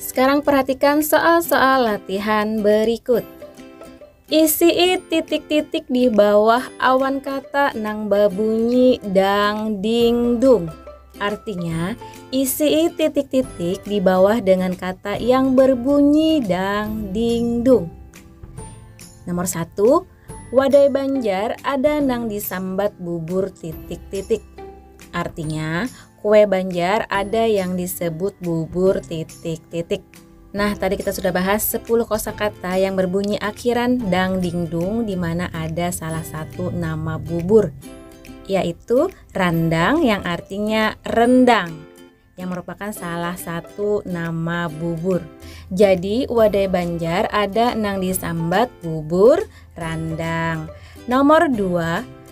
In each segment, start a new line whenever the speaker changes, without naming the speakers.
Sekarang perhatikan soal-soal latihan berikut. Isi titik-titik di bawah awan kata nang babunyi dang ding dung. Artinya, isi titik-titik di bawah dengan kata yang berbunyi dang ding dung. Nomor satu, wadai Banjar ada nang disambat bubur titik-titik. Artinya, Kue Banjar ada yang disebut bubur titik-titik. Nah, tadi kita sudah bahas 10 kosakata yang berbunyi akhiran dang ding dung di mana ada salah satu nama bubur yaitu randang yang artinya rendang yang merupakan salah satu nama bubur. Jadi, wadai Banjar ada nang disambat bubur randang. Nomor 2,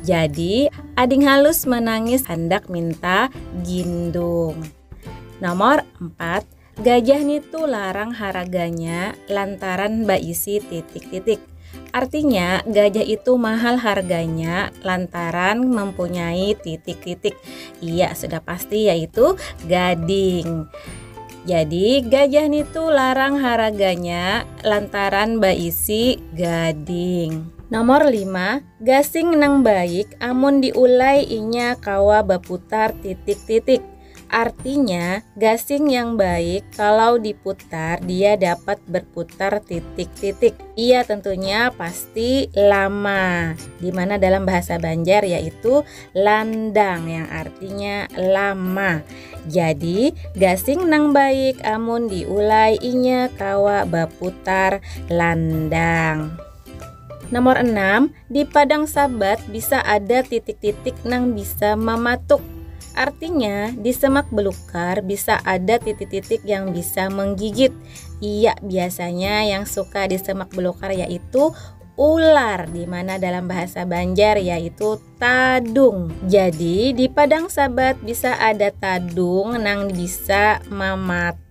Jadi, ading halus manangis handak minta gindung. Nomor 4, gajah nitu larang haraganya lantaran baisi titik-titik. Artinya, gajah itu mahal harganya lantaran mempunyai titik-titik. Iya, sudah pasti yaitu gading. Jadi, gajah nitu larang haraganya lantaran baisi gading. Nomor 5, Gasing nang baik amun diulai inya kawa baputar titik-titik. Artinya, gasing yang baik kalau diputar dia dapat berputar titik-titik. Ia tentunya pasti lama, di mana dalam bahasa Banjar yaitu landang yang artinya lama. Jadi, gasing nang baik amun diulai inya kawa baputar landang. Nomor enam, di padang sabat bisa ada titik-titik nang bisa mamatuk. Artinya, di semak belukar bisa ada titik-titik yang bisa menggigit. Iya, biasanya yang suka di semak belukar yaitu ular di mana dalam bahasa Banjar yaitu tadung. Jadi di padang sabat bisa ada tadung nang bisa mamatuk.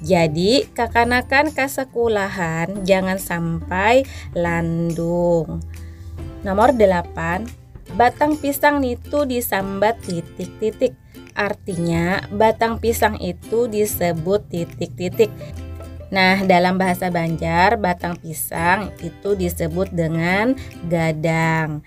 Jadi, kakanakan ka sekulahan jangan sampai landung. Nomor 8, batang pisang itu disambat titik-titik. Artinya, batang pisang itu disebut titik-titik. Nah, dalam bahasa Banjar, batang pisang itu disebut dengan gadang.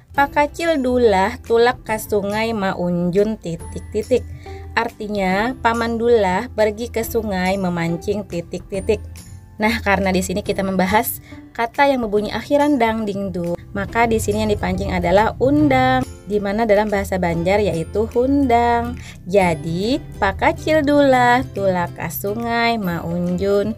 Pakacil Dulah tulak ka sungai maunjun titik-titik. Artinya, Paman Dulah pergi ke sungai memancing titik-titik. Nah, karena di sini kita membahas kata yang berbunyi akhiran dang ding du, maka di sini yang dipancing adalah undang, di mana dalam bahasa Banjar yaitu hundang. Jadi, Pakacil Dulah tulak ka sungai maunjun